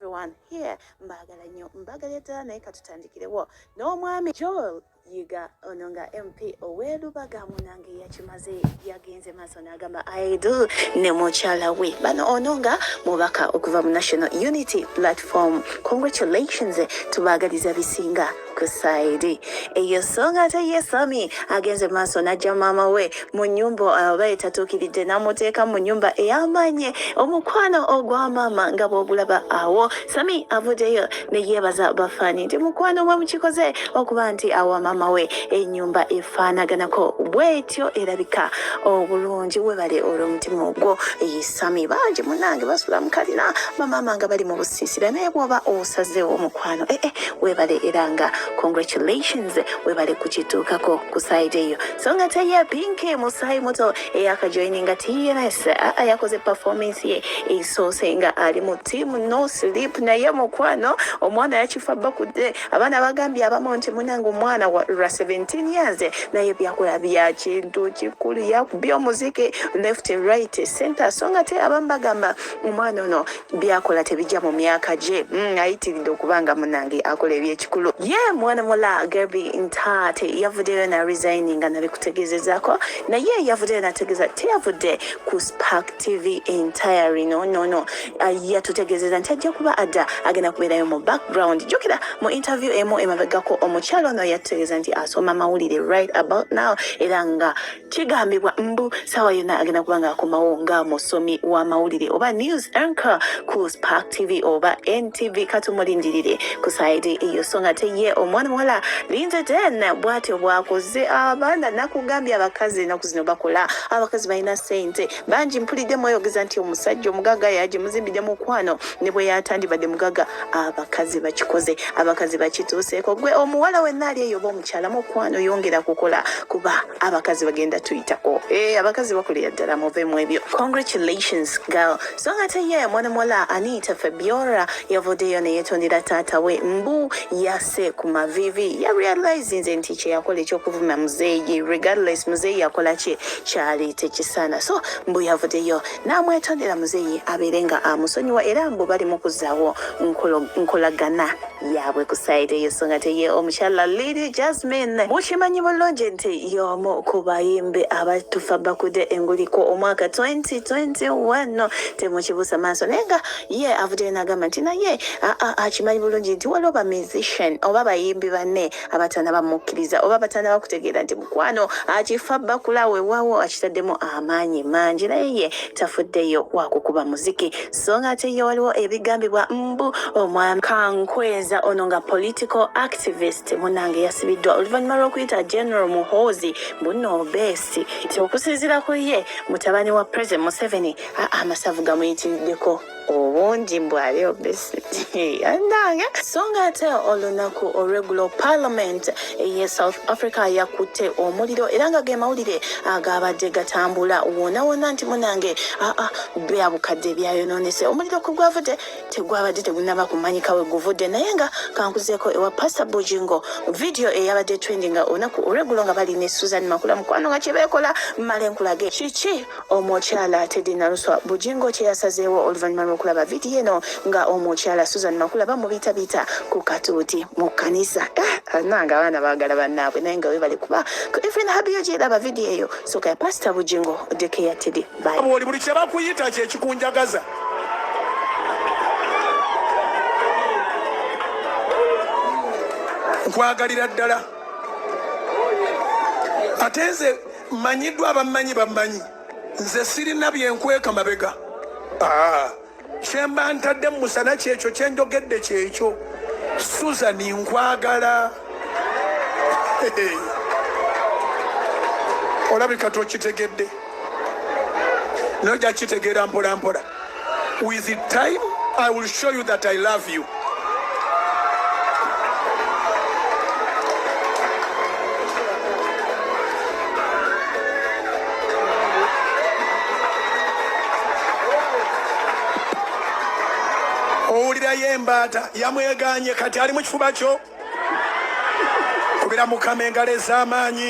everyone here mbagala nnyo mbagala eddala naye katutandikirewo n'omwami joel yiga ono nga mp owelubaga munange yakimaze yagenze maaso n'agamba aidu ne mukyala we bano ono nga mubaka okuva mu national unity platform congratulations tubagaliza bisinga kusaidi eyo songa ate ye sami agenze maaso n'ajja maama we mu nyumba aba etatuukiridde n'amuteeka mu nyumba ey'amaanyi omukwano ogwa maama nga bw'ogulaba awo sami avuddeyo ne yeebaza bafaani nti mukwano mwe mukikoze okuba nti awa maama we enyumba efaanaganako bwetyo erabika obulungi webale olw'omutima ogwo sami bangi munange basula mukalina bamaama nga bali mu busiisira naye bwoba osazeewo omukwano ee eh, eh, webale era nga congratulations webale kukituukako ku saidi eyo so nga teye pinki musaayi muto eyakajoininga tns aa yakoze performance ye esoose nga ali mu tiamu no sleep naye mukwano omwana yakifa bakudde Abaana bagambye abamu nti munange omwana wa lwa 17 years naye byakola bya kintu kikulu yakubye omuziki left and right center so nga te abamu bagamba omwana ono byakola tebijja mu myaka gye mm, ayitiridde okuba nga munange akola ebyekikulu ye mwana mula gerby ntaate yavuddeyo na resigning nga nabikutegezezaako naye yavuddeyo nategeeza teyavudde ku spark tv entire rino nono yatutegeezeza nti ajja kuba adda agenda kubeerayo mu background jjukira mu interview emu emabegako omukyalo ono yatutegeeza nti asoma mawulire right about now era nga kigambibwa mbu saawa yonna agenda kuba ng'akomawo nga musomi wa mawulire oba news anchor ku spark tv oba ntv katumulindirire ku saidi eyo so nga teye omwana muwala linda den bwatyo bwakoze abaana nakugambye abakazi enaku zino bakola abakazi balina sente bangi mpulidde mweyogeza nti omusajja omugaga yaje muzimbidde mukwano ne bwe yatandibadde mugaga abakazi bakikoze abakazi bakituuseeko gwe omuwala wenna ali eyo oba omukyala mukwano yongera kukola kuba abakazi bagenda tuyitako e, eh, abakazi bakolera ddala muve mu ebyo congratulations girl so nga teye mwana muwala anita fabiora yavuddeyo neyetondera taata we mbu yas yatuuse ku mavivi ya realizinze nti kyeyakola ekyokuvuma muzeeyi regardless muzeeyi yakola ki kyali tekisaana so mbu yavudeyo n'amwetondera muzeeyi abeere nga amusonyiwa era mbu bali mukuzaawo nkolagana yaabwe ku saidi eyo so nga teye omukyala lidi jasmine mukimanyi bulungi nti y'omu ku bayimbi abatufa bakude enguliko omwaka 2021 temukibuusa maaso naye nga Ye avuddeyo n'agamba nti naye akimanyi bulungi nti waliwo ba musician oba bayimbi banne abatanaba mukkiriza oba batanaba kutegeera nti mukwano akifa bakula wewawo akitaddemu amaanyi mangi naye ye tafuddeyo wakukuba muziki so nga ate ye waliwo ebigambibwa mbu omwami kankweza ono nga political activist munange yasibiddwa oluvannyuma lw'okuyita general muhoozi bunno obeesi nti okusinzira ku ye mutabani wa president museveni amasavu gamuyitiriddeko obungi mbu ali obesi yanange so nga ate olunaku olwegulo parliament eye south africa yakutte omuliro era nga ge mawulire agabadde gatambula wonawona nti munange aa bya bukadde byayononese omuliro ku gwavudde tegwabadde tegunaba kumanyika we guvudde naye nga kankuzeeko ewa pasta bujingo vidiyo eyabadde trendinga olunaku olwegulo nga bali ne susan makula mukwano nga kyebekola male nkulage kiki Omukyala Teddy Naluswa Bujingo kye yasazeewo oluvannyuma lw'okulaba vidiyo eno nga omukyala Susan Makula bamubiitabiita ku katuuti mu kkanisa. Ah, nange abaana baagala bannaabwe naye nga weebale kuba ku Evelyn Habiyo gy'eraba vidiyo eyo sooka ya Pasita Bujingo oddeko eya Teddy. Bwooli buli kye bakuyita kye kikunjagaza. Nkwagalira ddala ate nze Manyiddwa abamanyi bamanyi. Nze sirina bye nkweka mabega. Ah. Kye mba ntadde mu musana kyekyo kye njogedde kyekyo. Susan nkwagala. Olabika tokitegedde. Naye ojja kitegeera mpola mpola. With the time, I will show you that I love you. owulirayo embaata yamweganye kati ali mu kifuba kyo kubira mukama engalo ez'amaanyi